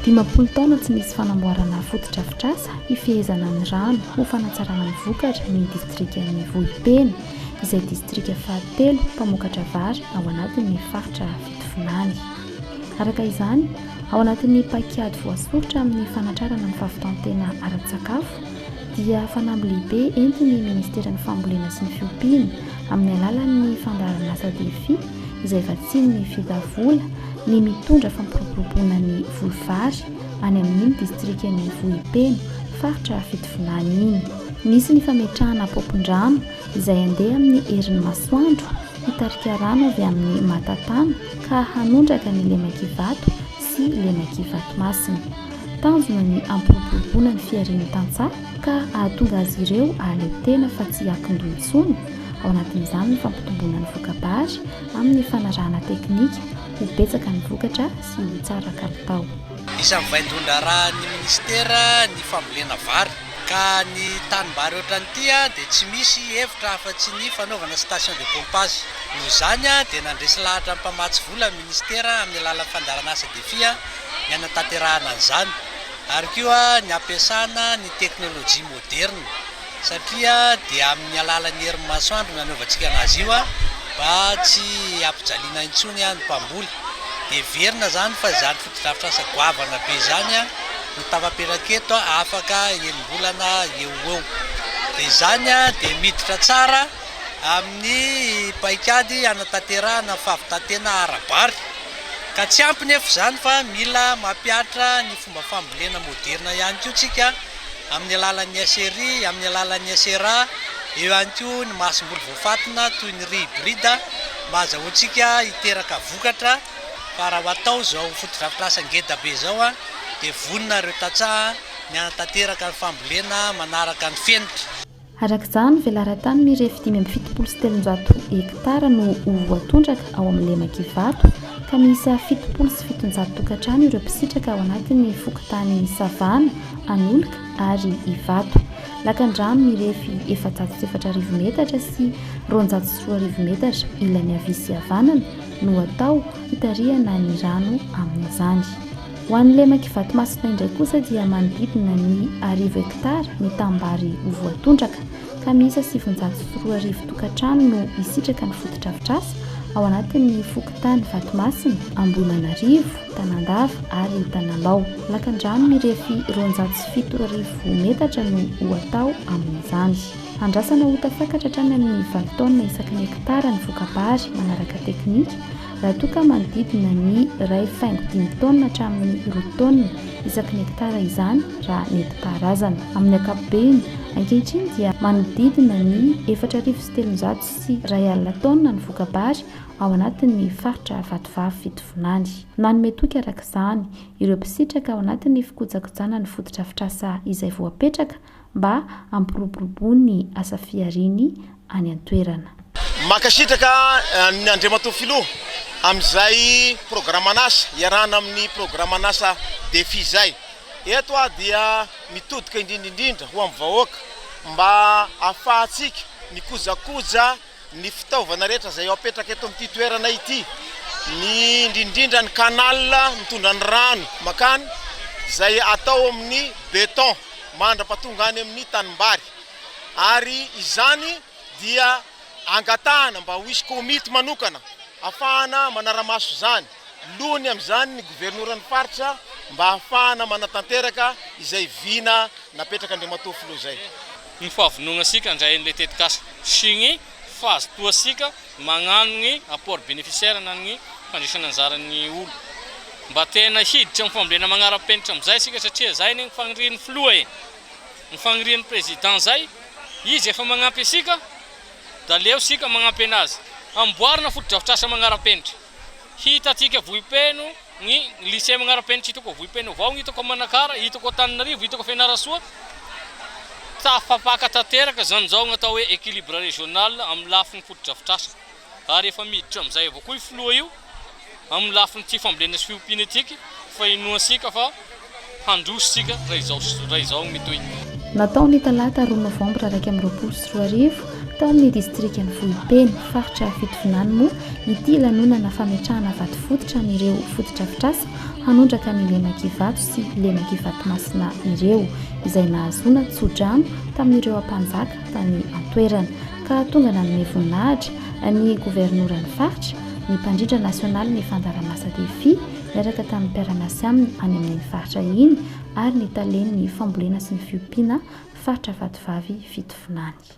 Dimampolo taona tsy nisy fanamboarana fotodrafitrasa hifehezana ny rano ho fanatsarana ny vokatra ny distrikan'ny Vohipeno, izay distrika fahatelo mpamokatra vary ao anatin'ny faritra Fitovinany. Araka izany, ao anatin'ny paikady voasoritra amin'ny fanatrarana ny fahavitan-tena ara-tsakafo, dia fanamby lehibe entin'ny Ministeran'ny Fambolena sy ny Fiompiana amin'ny alalan'ny fandaharan'asa Defi izay vatsian'ny Fida vola ny mitondra fampiroboroboana ny voly vary any amin'iny distrikan'i Vohipeno, faritra Fitovinany iny. Nisy ny fametrahana paompin-drano izay handeha amin'ny herin'ny masoandro hitarika rano avy amin'ny Matatana ka hanondraka ny Lemak'ivato sy Lemak'Ivatomasina. Tanjona ny hampiroboroboana ny fiharian'ny tantsaha ka hahatonga azy ireo hahaleo tena fa tsy hiankin-doha intsony, ao anatin'izany ny fampitomboana ny voka-bary amin'ny fanarahana teknika ho betsaka ny vokatra sy ho tsara kalitao. Isan'ny vaindohan-draharahan'ny minisitera ny fambolena vary ka ny tanimbary ohatran'ity dia tsy misy hevitra afa-tsy ny fanaovana station de pompage. Noho izany dia nandresy lahatra ny mpamatsy vola ny minisitera amin'ny alalan'ny fandaharan'asa Defi. ny hanatanterahana an'izany ary koa ny hampiasana ny teknolojia moderina satria dia amin'ny alalan'ny herin'ny masoandro no anaovantsika an'azy io mba tsy hampijaliana intsony ny mpamboly. Dia heverina izany fa izany fotodrafitrasa goavana be izany no tafapetraka eto afaka enim-bolana eo ho eo. Dia izany dia miditra tsara amin'ny paikady hanatanterahana fahavitan-tena ara-bary. Ka tsy ampy nefa izany fa mila mampihatra ny fomba fambolena moderina ihany koa tsika amin'ny alalan'ny SRI, amin'ny alalan'ny SRA, eo ihany koa ny masomboly voafatina toy ny riz hybride mba azahoantsika hiteraka vokatra fa raha atao izao fotodrafitrasa ngeda be izao dia vonona ireo tantsaha ny hanatanteraka ny fambolena manaraka ny fenitra. Araka izany, velaran-tany mirefy dimy amby fitopolo sy telonjato hektara no ho voatondraka ao amin'ny lemak'i Ivato, ka miisa fitopolo sy fitonjato tokantrano ireo mpisitraka ao anatin'ny fokontany Savana, Anoloka ary Ivato. Lakan-drano mirefy efajato sy efatra arivo metatra sy roanjato sy roa arivo metatra ilany havia sy havanana no atao hitarihana ny rano amin'izany. Ho an'ny lemak'i Vatomasina indray kosa dia manodidina ny arivo hektara ny tanimbary ho voatondraka, ka miisa sivinjato sy roa arivo tokantrano no hisitraka ny fotodrafitrasa ao anatin'ny fokontany Vatomasina, Ambohimanarivo, Tanandava ary Tanambao. Lakandrano mirefy roanjato sy fito arivo metatra no ho hatao amin'izany. Andrasana ho tafakatra hatrany amin'ny valo taonina isaky ny hektara ny voka-bary manaraka teknika, Raha toa ka manodidina ny iray faingo dimy taonina hatramin'ny roa taonina isaky ny hektara izany raha nentim-paharazana. Amin'ny ankapobeny, ankehitriny dia manodidina ny efatra arivo sy telonjato sy iray alina taonina ny voka-bary ao anatin'ny faritra Vatovavy Fitovinany. Nanome toky araka izany, ireo mpisitraka ao anatin'ny fikojakojana ny fotodrafitrasa izay voapetraka mba hampiroboroboa ny asa fihariany any an-toerana. Mankasitraka an'i Andriamatoa Filoha amin'izay programan'asa iarahana amin'ny programan'asa Defi izay. Eto aho dia mitodika indrindra indrindra ho amin'ny vahoaka mba ahafahantsika mikojakoja. ny fitaovana rehetra izay ho apetraka eto amin'ity toerana ity, ny indrindrindra ny canal mitondra ny rano makany izay atao amin'ny beton mandrapatonga any amin'ny tanimbary ary izany dia angatahana mba ho hisy komity manokana afahana manaramaso izany. Loany amin'izany ny governoran'ny faritra mba hahafahana manatanteraka izay vina napetrak'Andriamatoa Filoha izay. Ny fahavonona sika handray an'ilay tetikasa sy ny fahazotoa sika magnano ny apport beneficiaire na ny fandraisana anjara ny olo mba tena hiditra amin'ny fambolena magnarapenitra amin'izay sika satria izay anie ny fagnirian'ny Filoha e! ny fagnirian'ny Président izay izy efa magnampy asika da aleo sika magnampy anazy hamboarina fotodrafitrasa magnarapenitra. Hitantsika vohipeno ny Lycée Magnarapenitra hitako ao vohipeno avao ny hitako ao Manakara, hitako ao Antananarivo, hitako ao Fianarantsoa. Tafapaka tanteraka izany izao ny atao hoe équilibre régional amin'ny lafiny fotodrafitrasa ary efa miditra amin'izay avao koa io filoha io amin'ny lafiny tsy fambolena sy fiompiana ity fa inoantsika fa Handroso isika raha izao sy raha izao mitohy. Natao ny talata roa novambra iraika amby roapolo sy roa arivo, tao amin'ny distrikan'i Vohipeno, faritra Fitovinany moa ity lanonana fametrahana vato fototra an'ireo fotodrafitrasa hanondraka ny lemak'ivato sy lemak'ivatomasina ireo, izay nahazoana tsodrano tamin'ireo ampanjaka tany an-toerana, ka tonga nanome voninahitra ny governoran'ny faritra, ny mpandrindra nasionalin'ny fandaharamasa Defi, niaraka tamin'ny mpiara-miasa aminy any amin'iny faritra iny ary ny talen'ny fambolena sy ny fiompiana faritra Vatovavy Fitovinany.